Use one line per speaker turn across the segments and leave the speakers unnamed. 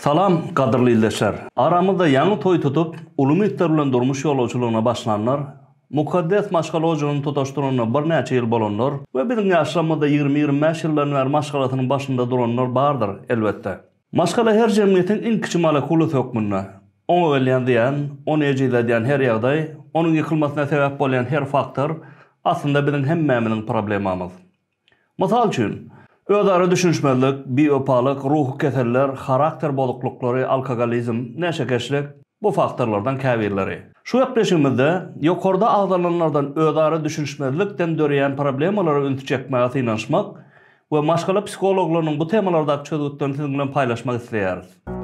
Salam, gadyrly ildeşler! Aramyzda ýaňy toý tutup, uly umytlar bilen durmuş ýolagçylygyna başlanlar, mukaddes maşgala ojagyny tutaşdyranyna birnäçe ýyl bolanlar we biziň ýaşlarymyzda ýigrimi-ýigrimi bäş ýyldan bäri maşgalasynyň başynda duranlar bardyr, elbetde. Maşgala her jemgyýetiň iň kiçi molekulasy hökmünde. Oňa gelýän zyýan, ony ejizledýän her ýagdaý, onuň ýykylmasyna sebäp bolýan her faktor, aslynda biziň hemmämiziň problemamyz. Mysal üçin, özara düşünişmezlik, biwepalyk, ruhy keseller, harakter bozuklyklary, alkogolizm, neşekeşlik, bu faktorlardan käbirleri. Şu gepleşigimizde ýokarda agzalanlardan özara düşünişmezlikden döreýän problemalara ünsi çekmäge synanyşmak we maşgala psihologlarynyň bu temalardaky çözgütlerini siziň bilen paýlaşmak isleýäris.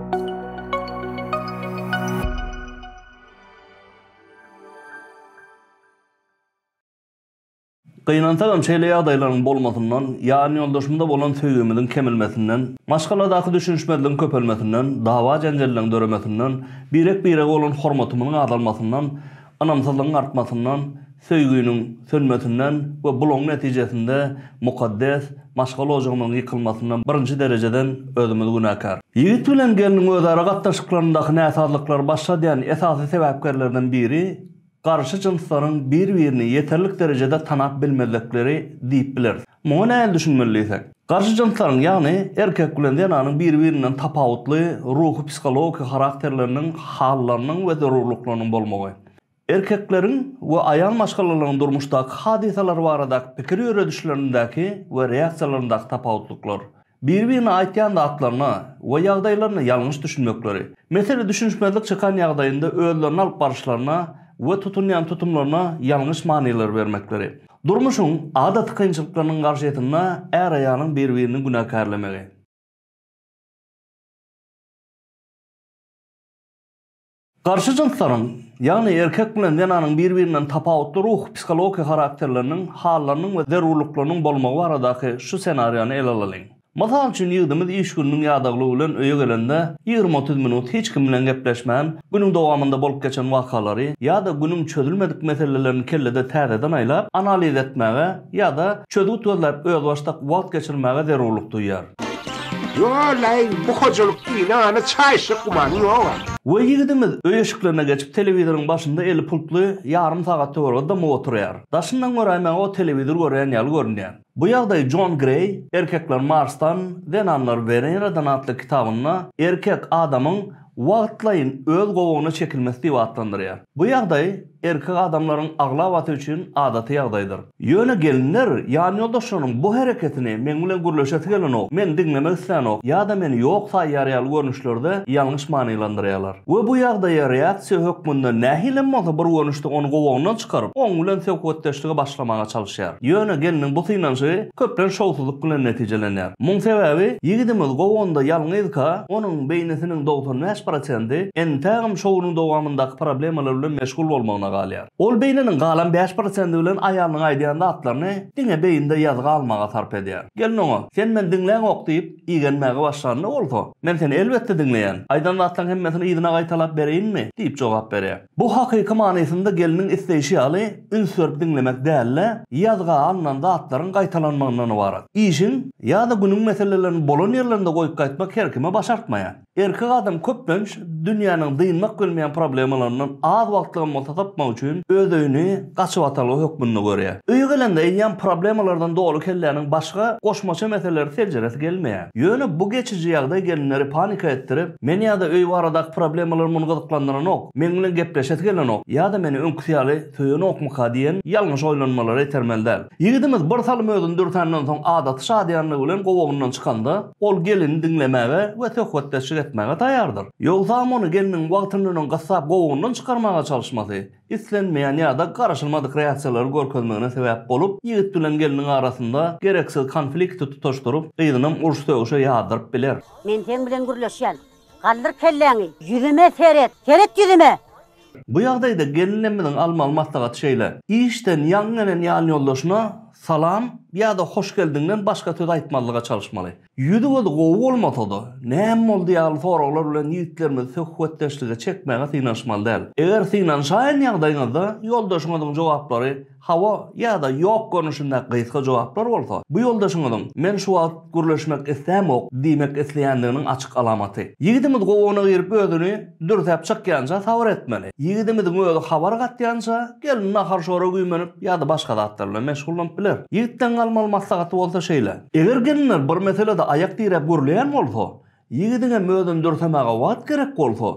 Gynansagam, şeýle ýagdaýlaryň bolmasyndan, ýanýoldaşymyza bolan söýgimiziň kemilmesinden, maşgaladaky düşünişmezligiň köpelmesinden, dawa-jenjelleriň döremesinden, birek-birege bolan hormatymyzyň azalmasyndan, ynamsyzlygyň artmasyndan, söýginiň sönmesinden we bulaň netijesinde mukaddes maşgala ojagymyzyň ýykylmasyndan birinji derejeden özümiz günäkär. Ýigit bilen gelniň özara gatnaşyklaryndaky näsazlyklary başladýan esasy sebäpkerlerden biri, garşy jynslaryň bir-birini ýeterlik derejede tanap bilmezlikleri diýip bileris. Muňa nähili düşünmeli diýsek? Garşy jynslaryň, ýagny erkek bilen zenanyň bir-birinden tapawutly ruhy-psihologiki harakterleriniň, hallarynyň we zerurlyklarynyň bolmagy. Erkekleriň we aýal maşgalalaryň durmuşdaky hadysalar baradaky pikir ýöredişlerindäki we reaksiýalaryndaky tapawutlyklar. biri-birine aýtýan zatlaryna we ýagdaýlaryna ýalňyş düşünmekleri, mesele düşünişmezlik çykan ýagdaýynda özlerini alyp baryşlaryna we tutunýan tutumlaryna ýalňyş manylar bermekleri, durmuşyň adaty kynçylyklarynyň garşysynda är-aýalyň bir-birini günäkärlemegi. Garşy jynslaryň, ýagny erkek bilen zenanyň bir-birinden tapawutly ruhy-psihologiýa harakterleriniň, hallarynyň we zerurlyklarynyň bolmagy baradaky şu senariýany ele alalyň. Mysal üçin, ýigdimiz iş gününiň ýadaglygy bilen öýe gelende, ýigrimi-otuz minut hiç kim bilen gepleşmän, günüň dowamynda bolup geçen wakalary ýa-da günüň çözülmedik meselelerini kellede täzeden aýlap, analiz etmäge, Ýa-da çözgüt gözläp özbaşdak wagt geçirmäge zerurlyk duýýar. Ýo-laý,
bu hojalyk ynana çaýşyk gümany ýog-a. We ýigidimiz
öý eşiklerine geçip telewizoryň başynda eli pultly ýarym sagat töweregi dymyp oturýar. Daşyndan göräýmäge o telewizor görýän ýaly görünýär. Bu ýagdaý Jon Greý Erkekler Marsdan, zenanlar Weneradan atly kitabynda erkek adamyň wagtlaýyn öz gowagyna çekilmesi diýip atlandyrýar. Bu ýagdaý erkek adamlaryň aglabasy üçin adaty ýagdaýdyr. Ýöne gelinler ýanýoldaşlarynyň bu hereketini meň bilen gürleşesi gelenok, meni diňlemek islänok ýa-da meni ýok saýýar ýaly görnüşlerde ýalňyş manylandyrýarlar we bu ýagdaýa reaksiýa hökmünde nähili hem bolsa bir görnüşde ony gowagyndan çykaryp, oň bilen söhbetdeşlige başlamaga çalyşýar. Ýöne gelniň bu synanyşygy köplenç şowsuzlyk bilen netijelenýär. Muň sebäbi ýigidimiz gowanda ýalňyzka, onuň beýnisiniň dogsan bäş prosenti entägem şowunyň dowamyndaky problemalar bilen meşgul bolmagyna galýar. Ol beýniniň galan bäş prosendi bilen aýalynyň aýdýan zatlaryny diňe beýninde ýazgy almaga sarp edýär. Gelin oňa, Sen meni diňläňok diýip, igenmäge başlanda bolsa, Men seni elbetde diňleýän. Aýdan zatlaryň hemmesini yzyna gaýtalap bereýinmi? diýip jogap berýär. Bu hakyky manysynda gelniň isleýşi ýaly üns berip diňlemek däl-de, ýazga alnan zatlaryň gaýtalanmagyndan ybarat. Işiň ýa-da günüň meselelerini bolan ýerlerinde goýup gaýtmak her kime başartmaýar. Erkek adam köplenç dünýäniň dynmak bilmeýän problemalaryndan az wagtlygam bolsa sypmak üçin öz öýüni gaçybatalga hökmünde görýär. Öýe gelende eýýäm problemalardan doly kelläniň başga goşmaça meseleleri seljeresi gelmeýär. Ýöne bu geçiji ýagdaý gelinleri panika etdirip, meni ýa-da öý baradaky problemalarym ony gyzyklandyranok, meň bilen gepleşesi gelenok ýa-da meni öňküsi ýaly söýenokmyka diýen ýalňyş oýlanmalara itermeli däl. Ýigidimiz bir salym özüni dürsänden soň adaty şadyýanlygy bilen gowagyndan çykanda, ol gelini diňlemäge we söhbetdeşlik etmäge taýýardyr. Ýogsam ony gelniň wagtyndan öň gyssap gowagyndan çykarmaga çalyşmasy, islenmeýän ýa-da garaşylmadyk reaksiýalary görkezmegine sebäp bolup, ýigit bilen gelniň arasynda gereksiz konflikti tutaşdyryp, gyzynam uruş-sögüşe ýazdyryp biler. Men seň bilen
gürleşýän. Galdyr kelläňi. Ýüzüme seret. Seret ýüzüme! Bu
ýagdaýda gelinimiziň almaly maslahaty şeýle, işden ýaňy gelen ýanýoldaşyna salam ýa-da hoş geldiňden başga söz aýtmazlyga çalyşmaly. Ýüzi-gözi gowy bolmasa-da, näme boldy ýaly soraglar bilen ýigitlerimizi söhbetdeşlige çekmäge synanyşmaly däl. Eger synanyşaýan ýagdaýyňyzda ýoldaşyňyzyň jogaplary hawa ýa-da ýok görnüşinde gysga jogaplar bolsa, bu ýoldaşyňyzyň men şu wagt gürleşmek islämok diýmek isleýändiginiň açyk alamaty. Ýigidimiz gowuna girip özüni. Dürsäp çykýança sabyr etmeli. Ýigidimiziň özi habar gatýança, gelin nahar-şora güýmenip, ýa-da başga zatlar bilen meşgullanyp biler. Ýigitden galmaly maslahaty bolsa şeýle. Eger gelinler bir meselede aýak diräp gürleýän bolsa, ýigidiň hem özüni dürsemäge wagt gerek bolsa,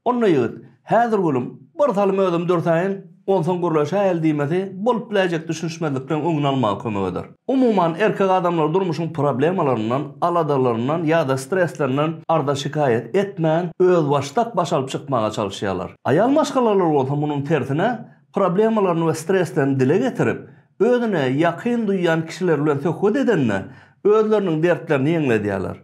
onda ýigit, Häzir gülüm, birsalym özüm dürsäýin, Onsoň gürleş äýel diýmesi bolup biläýjek düşünişmezlikleriň öňüni almaga kömek eder. Umuman, erkek adamlar durmuşyň problemalaryndan, aladalaryndan ýa-da stresslerinden arza-şikaýat etmän, özbaşdak baş alyp çykmaga çalyşýarlar. Aýal maşgalalar bolsa munuň tersine, problemalaryny we streslerini dile getirip, özüne ýakyn duýýan kişiler bilen söhbet edende, özleriniň dertlerini ýeňledýärler.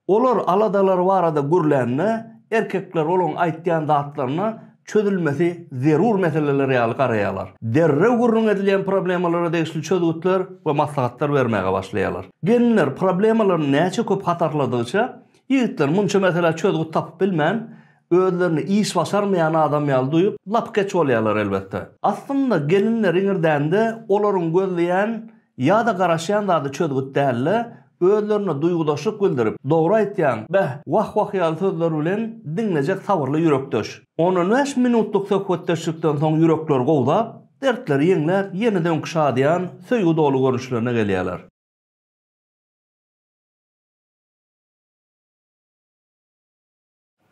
Olar aladalary barada gürlände, erkekler olaryň aýtýan zatlaryna çözülmesi zerur meseleler ýaly garaýarlar. Derrew gürrüň edilýän problemalara degişli çözgütler we maslahatlar bermäge başlaýarlar. Gelinler problemalaryny näçe köp hatarladygyça, ýigitler munça meselä çözgüt tapyp bilmän, özlerini iş başarmaýan adam ýaly duýup, lapykeç bolýarlar elbetde. Aslynda gelinler iňirdände olaryň gözleýän ýa-da garaşýan zady çözgüt däl-de, özlerine duýgudaşlyk bildirip, Dogry aýtýaň, beh, wah-wah ýaly sözler bilen diňlejek sabyrly ýürekdeş. On-on bäş minutlyk söhbetdeşlikden soň ýürekleri gowzap, dertleri ýeňläp, ýene-de öňki şadyýan, söýgi doly görnüşlerine gelýärler.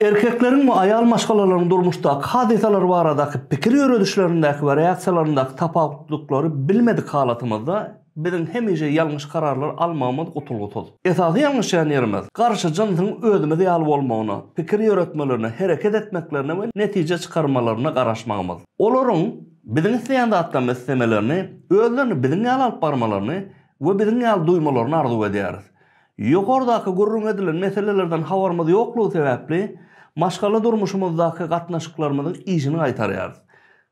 Erkekleriň we aýal maşgalalaryň durmuşdaky hadysalar baradaky pikir ýöredişlerindäki we reaksiýalaryndaky tapawutlylyklary bilmedik halatymyzda, biziň hemişe ýalňyş kararlar almagymyz gutulgysyz. Esasy ýalňyşýan ýerimiz, garşy jynsyň özümiz ýaly bolmagyna, pikir ýöretmelerine, hereket etmeklerine we netije çykarmalaryna garaşmagymyz. Olaryň biziň isleýän zatlarymyzy islemelerini, özlerini biziň ýaly alyp barmalaryny we biziň ýaly duýmalaryny arzuw edýäris. Ýokardaky gürrüň edilen meselelerden habarymyz ýoklugy sebäpli, maşgala durmuşymyzdaky gatnaşyklarymyzyň yzyny gaýtarýarys.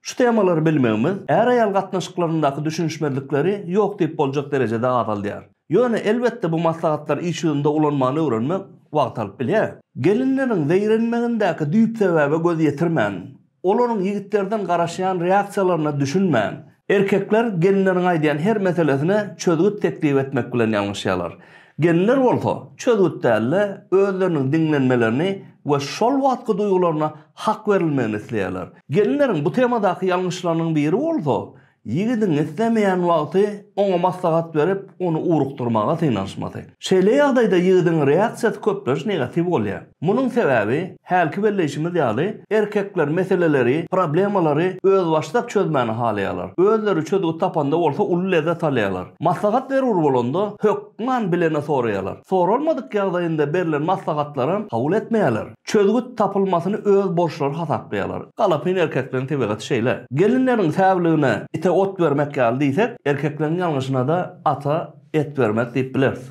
Şu temalary bilmegimiz, är-aýal gatnaşyklaryndaky düşünişmezlikleri ýok diýip boljak derejede azaldýar. Ýöne, elbetde, bu maslahatlar iş ýüzünde ulanmany öwrenmek wagt alyp bilýär. Gelinleriň zeýrenmegindäki düýp sebäbe göz ýetirmän, Olaryň ýigitlerden garaşýan reaksiýalaryna düşünmän, erkekler gelinleriň aýdýan her meselesine çözgüt teklip etmek bilen ýalňyşýarlar. Gelinler bolsa, çözgüt däl-de, özleriniň diňlenmelerini we şol wagtky duýgularyna hak berilmegini isleýärler. Gelinleriň bu temadaky ýalňyşlarynyň biri bolsa, Ýigidiň islemeýän wagty oňa maslahat berip, ony ugrukdyrmaga synanyşmasy. Şeýle ýagdaýda ýigidiň reaksiýasy köplenç negatiw bolýar. Munuň sebäbi, hälki belleýşimiz ýaly, erkekler meseleleri, problemalary özbaşdak çözmäni halaýarlar. Özleri çözgüt tapanda bolsa uly lezzet alýarlar. Maslahat zerur bolanda, hökman bilene soraýarlar. Soralmadyk ýagdaýynda berlen maslahatlaram kabul etmeýärler. Çözgüt tapylmasyny öz borçlary hasaplaýarlar. Galapyn erkekleň tebigaty şeýle. Gelinleriň säwligine ite ot bermek ýaly diýsek, erkekleň ýalňyşyna-da ata et bermek diýip bileris.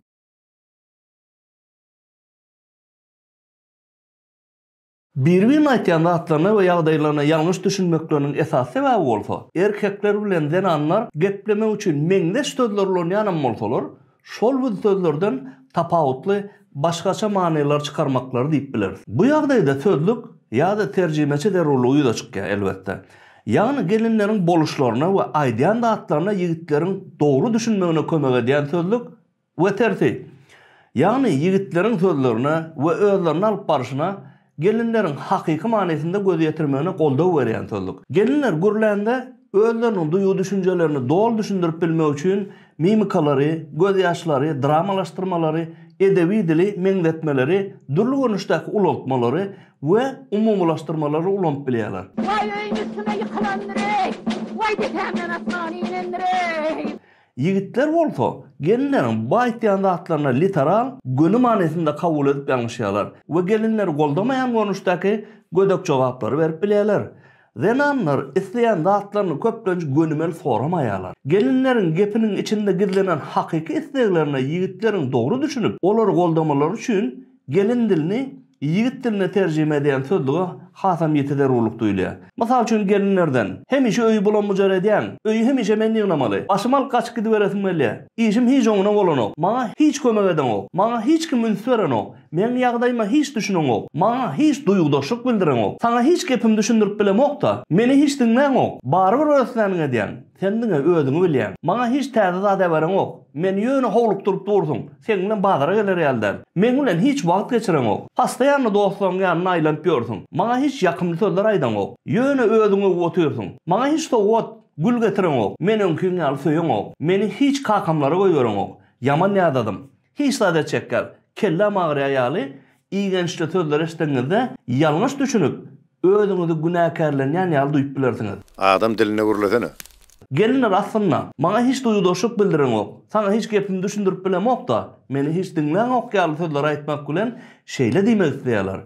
Bir-birine aýtýan zatlaryna we ýagdaýlaryna ýalňyş düşünmekleriniň esasy sebäbi bolsa, erkekler bilen zenanlar geplemek üçin meňzeş sözler ulanýanam bolsalar, Şol biz sözlerden tapawutly başgaça manylar çykarmaklary diýip bileris. Bu ýagdaýda sözlük ýa-da terjimeçi zerurlygy ýüze çykýar, elbetde. Ýagny gelinleriň boluşlaryna we aýdýan zatlaryna ýigitleriň dogry düşünmegine kömek edýän sözlük we tersi. Ýagny ýigitleriň sözlerine we özlerini alyp baryşyna Gelinleriň hakyky manysynda göz ýetirmegine goldaw berýän sözlük. Gelinler gürlände özleriniň duýgy-düşünjelerini doly düşündirip bilmek üçin mimikalary, gözýaşlary, dramalaşdyrmalary, edebi dili, meňzetmeleri, dürli görnüşdäki ulaltmalary we umumylaşdyrmalary ulanyp bilýärler. Waý öýüň üstüne ýykylandyr-eý! Waý depäňden asmana inendir-eý! Ýigitler bolsa, gelinleriň bu aýtýan zatlaryny literal, göni manysynda kabul edip ýalňyşýarlar we gelinleri goldamaýan görnüşdäki gödek jogaplary berip bilýärler. Zenanlar isleýän zatlaryny köplenç gönümel soramaýarlar. Gelinleriň gepiniň içinde gizlenen hakyky isleglerine ýigitleriň dogry düşünip, olary goldamalary üçin Gelin dilini ýigit diline terjime edýän sözlüge hasam ýiti zerurlyk duýulýar. Mysal üçin gelinlerden, Hemişe öýi bulam-bujar edýäň, öýi hemişe men ýygnamaly, başymy alyp gaçyp gidiberesim gelýär, işim hiç oňuna bolanok, maňa hiç kömek edeňok, maňa hiç kim üns berenok, meň ýagdaýyma hiç düşüneňok, maňa hiç duýgudaşlyk bildireňok, saňa hiç gepimi düşündirip bilemok-da, meni hiç diňläňok, barybir örtläniňi edýäň. Sen diňe özüňi bilýäň. Maňa hiç täze zat äbereňok. Meni ýöne howlukdyryp dursuň. Seň bilen bazara geler ýaly däl. Meň bilen hiç wagt geçireňok. Postoýanny dostlaryň ýanyna aýlanyp ýörsüň. Maňa hiç ýakymly sözler aýdaňok. Ýöne özüň öwüp otyrsyň. Maňa hiç sowgat, gül getireňok. Meni öňkiň ýaly söýeňok. Meni hiç kakamlara goýbereňok. Ýaman ýadadym. Hiç zat etjek ýaly, kelläm agyrýar ýaly igençli sözleri eşidenizde ýalňyş düşünip, özüňizi günäkärlenýän ýaly duýup bilersiňiz. Adam dilinde
gürlesene. Gelinler
aslynda, maňa hiç duýgudaşlyk bildireňok, saňa hiç gepimi düşündirip bilemok-da, meni hiç diňläňok ýaly sözleri aýtmak bilen şeýle diýmek isleýärler.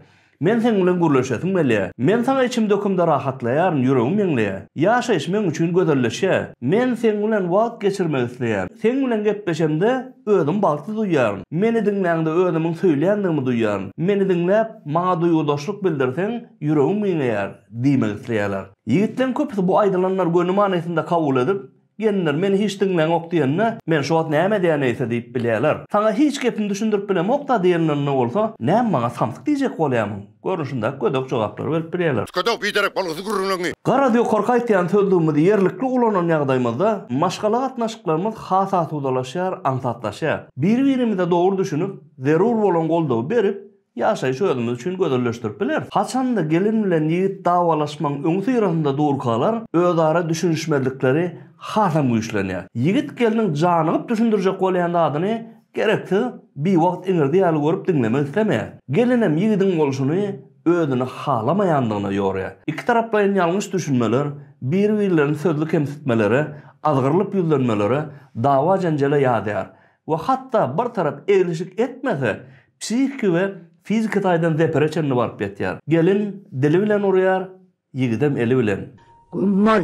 Men seň bilen gürleşesim gelýä. Men saňa içim dökümde rahatlaýaryn, ýüregim ýeňleýä. Ýaşaýyş meň üçin gözelleşýä. Men seň bilen wagt geçirmek isleýän. Seň bilen gepleşemde, özüm bagtly duýýaryn. Meni diňläňde özümiň söýlýändigimi duýýaryn. Meni diňläp, maňa duýgudaşlyk bildirseň, ýüregim giňeýär, diýmek isleýärler. Ýigitleň köpüsi bu aýdylanlary göni manysynda kabul edip, Gelinler, meni hiç diňläňok diýende, men şu wagt näme edýän eýse diýip bilýärler. Saňa hiç gepimi düşündirip bilemok-da diýenlerinde bolsa, näm maňa samsyk diýjek bolýarmyň? Görnüşindäki gödek jogaplary berip bilýärler. Kötek biderek bolgusyz
gürrüňleňňi. Garaz, ýokarky aýtýan
sözlügimizi ýerlikli ulanan ýagdaýymyzda maşgala gatnaşyklarymyz has asudalaşýar, aňsatlaşýar. Biri-birimize dogry düşünip, zerur bolan goldawy berip, Ýaşaýşy özümiz üçin gözelleşdirip bileris. Haçanda gelin bilen ýigit dawalaşmagyň öňüsyrasynda durkalar, özara düşünişmezlikleri hasam güýçlenýär. Ýigit gelniň janygyp düşündirjek bolýan zadyny gereksiz, biwagt iňirdi ýaly görüp diňlemek islemeýär. Gelinem ýigidiň bolşuny özüne halamaýandygyna ýorýar. Ikitaraplaýyn ýalňyş düşünmeler, biri-birlerini sözli kemsitmelere, azgyrylyp ýüzlenmelere, dawa-jenjele ýazýar. we hatda bir tarap eglişik etmese, psihiki we fiziki taýdan zepere çenli baryp ýetýär. Gelin dili bilen urýar, ýigidem eli bilen. Göm bol!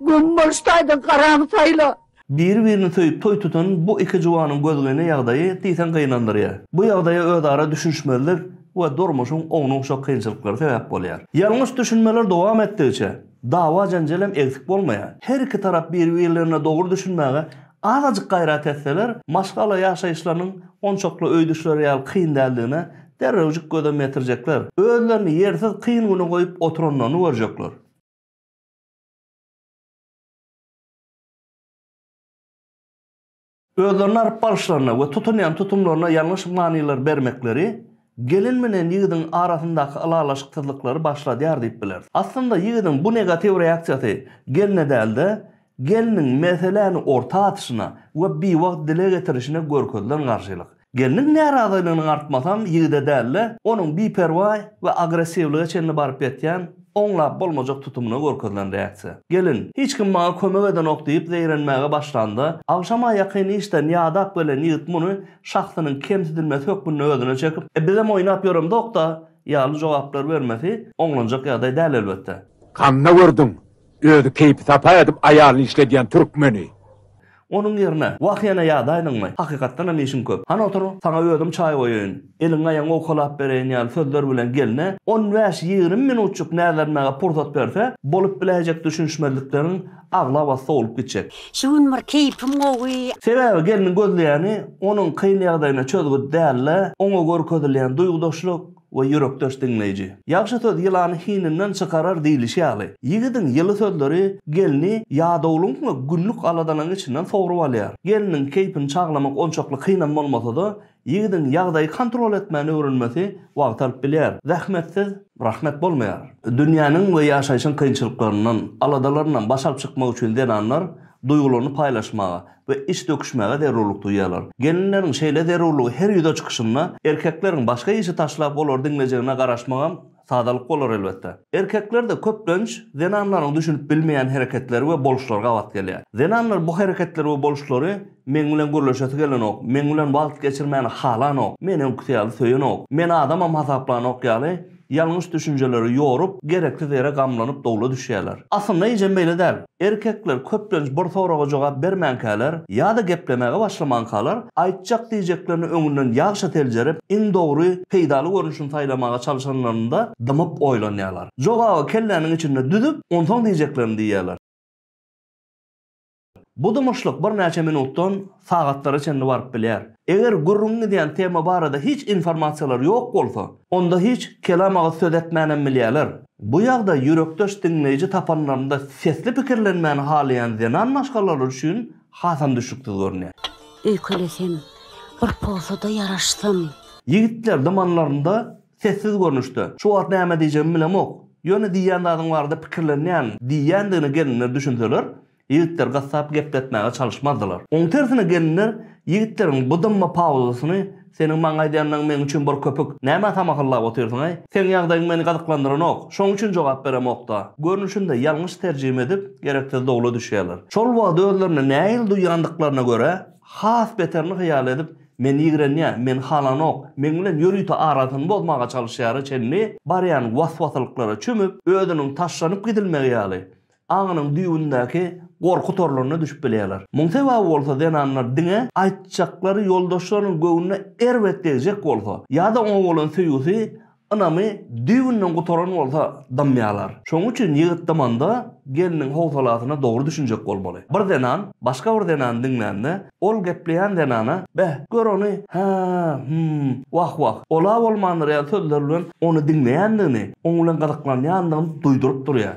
Göm boluş taýdan garaňy saýla! Biri-birini söýüp
toý tutan bu iki juwanyň gözgyny ýagdaýy diýseň gynandyrýar. Bu ýagdaýa özara düşünişmezlik we durmuşyň ownuk-şok kynçylyklary sebäp bolýar. Ýalňyş düşünmeler dowam etdigiçe, Dawa-janjal hem egsik bolmaýar. Her iki tarap bir-birlerine dogry düşünmäge azajyk gaýrat etseler, maşgala ýaşaýyşlarynyň onçakly öý düşleri ýaly kyn däldigine derrewjik gözem ýetirjekler. Özlerini ýersiz kyn güne goýup oturanlaryny görjekler. Özlerini aryp baryşlaryna we tutunýan tutumlaryna ýalňyş manylar bermekleri gelin bilen ýigidiň arasyndaky ylalaşyksyzlyklary başladýar diýip bileris. Aslynda ýigidiň bu negatiw reaksiýasy gelne däl-de, gelniň meseläni orta atyşyna we biwagt dile getirişine görkezilen garşylyk. Gelniň närazylygynyň artmasam ýigide däl-de, onuň biperwaý we agressiwlige çenli baryp ýetýän, oňlap bolmajak tutumyna görkezilen reaksiýa. Gelin, Hiç kim maňa kömek edenok diýip zeýrenmäge başlanda, agşama ýakyn işden ýadap gelen ýigit muny şahsynyň kemsidilmesi hökmünde özüne çekip, E bizem oýnap ýöremzok-da ýaly jogaplar bermesi oňlanjak ýagdaý däl elbetde. Handa gördüň,
özi keýpi-sapa edip aýalyny işledýän türkmeni. Onuň
ýerine, Wah ýene ýadaýdyňmy? Hakykatdan hem işiň köp. Han otur, saňa özüm çaý goýaýyn, eliň-aýagyň owkalap bereýin ýaly sözler bilen gelne on bäş-ýigrimi minutjyk näzlenmäge pursat berse, bolup biläýjek düşünişmezlikleriň aglabasy sowlup gitjek. Şu gün bir keýpim
gowy. Sebäbi gelniň
gözleýäni onuň kyn ýagdaýyna çözgüt däl-de, oňa görkezilýän duýgudaşlyk, we ýürekdeş diňleýji. Ýagşy söz ýylany hininden çykarar diýlişi ýaly, ýigidiň ýyly sözleri gelni ýadawlygyň we günlük aladalaryň içinden sogrup alýar. Gelniň keýpini çaglamak onçakly kynam bolmasa-da, ýigidiň ýagdaýy kontrol etmäni öwrenmesi wagt alyp bilýär. Zähmetsiz rahmet bolmaýar. Dünýäniň we ýaşaýşyň kynçylyklaryndan, aladalaryndan baş alyp çykmak üçin zenanlar duýgularyny paýlaşmaga, we iş döküşmäge zerurlyk duýýarlar. Gelinleriň şeýle zerurlygy her ýüze çykyşynda erkekleriň başga işi taşlap olary diňlejegine garaşmagam sadalyk bolar elbetde. Erkeklerde köplenç zenanlaryň düşünip bilmeýän hereketleri we boluşlary gabat gelýär. Zenanlar bu hereketleri we boluşlary Meň bilen gürleşesi gelenok, meň bilen wagt geçirmäni halanok, meni öňküsi ýaly söýenok, meni adamam hasaplanok ýaly, Ýalňyş düşünjeleri ýorup, gereksiz ýere gamlanyp dowla düşýärler. Aslynda eýjäm beýle däl. Erkekler köplenç bir soraga jogap bermänkäler ýa-da geplemäge başlamankalar, aýtjak diýjeklerini öňünden ýagşa seljerip, iň dogry, peýdaly görnüşini saýlamaga çalşanlarynda dymyp oýlanýarlar. Jogaby kelläniň içinde düzüp, onsoň diýjeklerini diýýärler. Bu dymyşlyk birnäçe minutdan sagatlara çenli baryp bilýär. Eger gürrüňi gidýän tema barada hiç informasiýalar ýok bolsa, onda hiç kelam agyz söz etmänem bilýärler. Bu ýagdaý ýürekdeş diňleýji tapanlarynda sesli pikirlenmäni halaýan zenan maşgalalary üçin hasam düşnüksiz görünýär. Öýkelesem,
bir pozuda ýaraşsam. Ýigitler
dymanlarynda Sessiz görnüşde, Şu wagt näme diýjegimi bilemok. Ýöne diýýän zadyň barada pikirlenýän diýýändigine gelinler düşünseler, ýigitler gassap gepletmäge çalyşmazdylar. Oň tersine gelinler ýigitleriň bu dymma pauzasyny Seniň maňa aýdýanlaryň meň üçin bir köpük. Nämä samahyrlap otyrsyň-aý? Seň ýagdaýyň meni gyzyklandyranok. Şoň üçin jogap beremok-da. Görnüşinde ýalňyş terjime edip, gereksiz dowla düşýärler. Şol wagt özlerine nähili duýýandyklaryna görä, has beterini hyýal edip, Men ýigrenýä, meni halanok, meň bilen ýörite arasyny bozmaga çalyşýara çenli barýan was-wasylyklara çümüp, özüniň taşlanyp gidilmegi ýaly, aňynyň düýbündäki gorky torlaryna düşüp bilýärler. Muň sebaby bolsa zenanlar diňe aýtjaklary ýoldaşlarynyň göwnüne erbet degjek bolsa, ýa-da oňa bolan söýgüsi Ynamy düýbünden gutaran bolsa dymýarlar. Şonuň üçin ýigit dymanda gelniň howsalasyna dogry düşünjek bolmaly. Bir zenan başga bir zenany diňlände, ol gepleýän zenana, Beh, gör ony, hä, hüm, wah-wah, ol-a bolmandyr ýaly sözler bilen ony diňleýändigini, oň bilen gyzyklanýandygyny duýduryp durýar.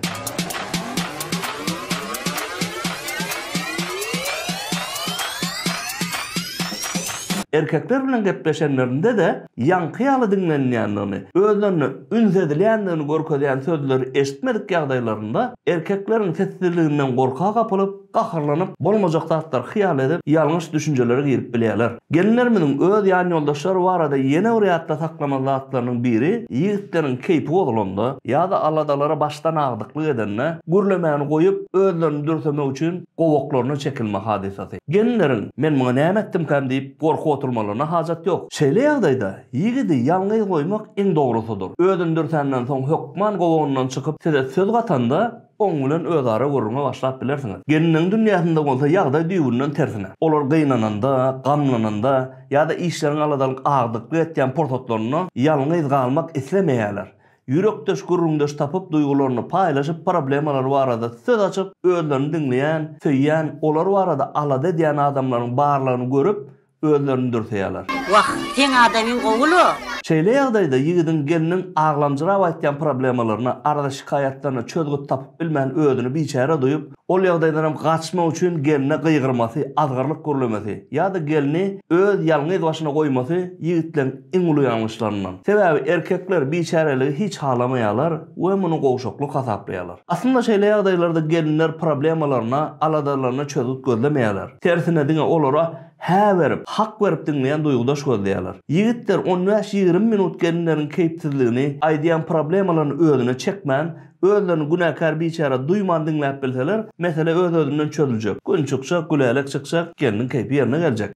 Erkekler bilen gepleşenlerinde-de ýaňky ýaly diňlenilýändigini, özlerine üns edilýändigini görkezýän sözleri eşitmedik ýagdaýlarynda erkekleriň sessizliginden gorka gapylyp, gaharlanyp, bolmajak zatlary hyýal edip, ýalňyş düşünjelere girip bilýärler. Gelinlerimiziň öz ýanýoldaşlary barada ýene bir ýatda saklamaly zatlarynyň biri, ýigitleriň keýpi bozulanda ýa-da aladalara başdan agdyklyk edende, gürlemäni goýup, özlerini dürsemek üçin, gowaklaryna çekilme hadysasy. Gelinleriň, Men muňa näme etdimkäm diýip, gorkup oturmalaryna hajat ýok. Şeýle ýagdaýda, ýigidi ýalňyz goýmak iň dogrusydyr. Özüni dürsänden soň hökman gowagyndan çykyp, size söz gatanda, oň bilen özara gürrüňe başlap bilersiňiz. Gelinleriň dünýäsinde bolsa ýagdaý düýbünden tersine. Olar gynananda, gamlananda ýa-da işleriň aladalyk agdyklyk etýän pursatlarynda ýalňyz galmak islemeýärler. Ýürekdeş, gürrüňdeş tapyp, duýgularyny paýlaşyp, problemalary barada söz açyp, özlerini diňleýän, söýýän, olar barada alada edýän adamlaryň barlygyny görüp, özlerini dürseýärler. Wah, seň
adamyň gowy-la! Şeýle ýagdaýda
ýigidiň gelniň aglamjyrap aýtýan problemalaryna, arza-şikaýatlaryna çözgüt tapyp bilmän özüni biçäre duýup, Ol ýagdaýdan hem gaçmak üçin gelne gygyrmasy, azgyrlyk gürlemesi ýa-da gelni öz ýalňyz başyna goýmasy ýigitleriň iň uly ýalňyşlaryndan. Sebäbi erkekler biçäreligi hiç halamaýarlar we muny gowşaklyk hasaplaýarlar. Aslynda şeýle ýagdaýlarda gelinler problemalaryna, aladalaryna çözgüt gözlemeýärler. Tersine diňe olara hä berip, hak berip diňleýän duýgudaş gözleýärler. Ýigitler on bäş-ýigrimi minut gelinleriň keýpsizligini, aýdýan problemalaryny özüne çekmän, Özlerini günäkär biçäre duýman diňläp bilseler, mesele öz-özünden çözüljek. Gün çykjak, gülälek çykjak, gelniň keýpi ýerine geljek.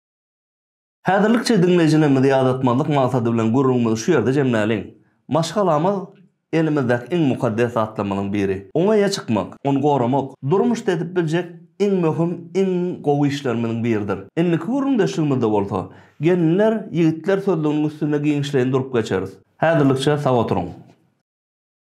Häzirlikçe diňleýjilerimizi ýadatmazlyk maksady bilen gürrüňimizi şu ýerde jemläliň. Maşgalamyz, elimizdäki iň mukaddes zatlarymyzyň biri. Oňa eýe çykmak, ony goramak, durmuşda edip biljek iň möhüm, iň gowy işlerimiziň biridir. Indiki gürrüňdeşligimizde bolsa, gelinler, ýigitler sözlüginiň üstünde giňişleýin durup geçeris. Häzirlikçe sag oturyň.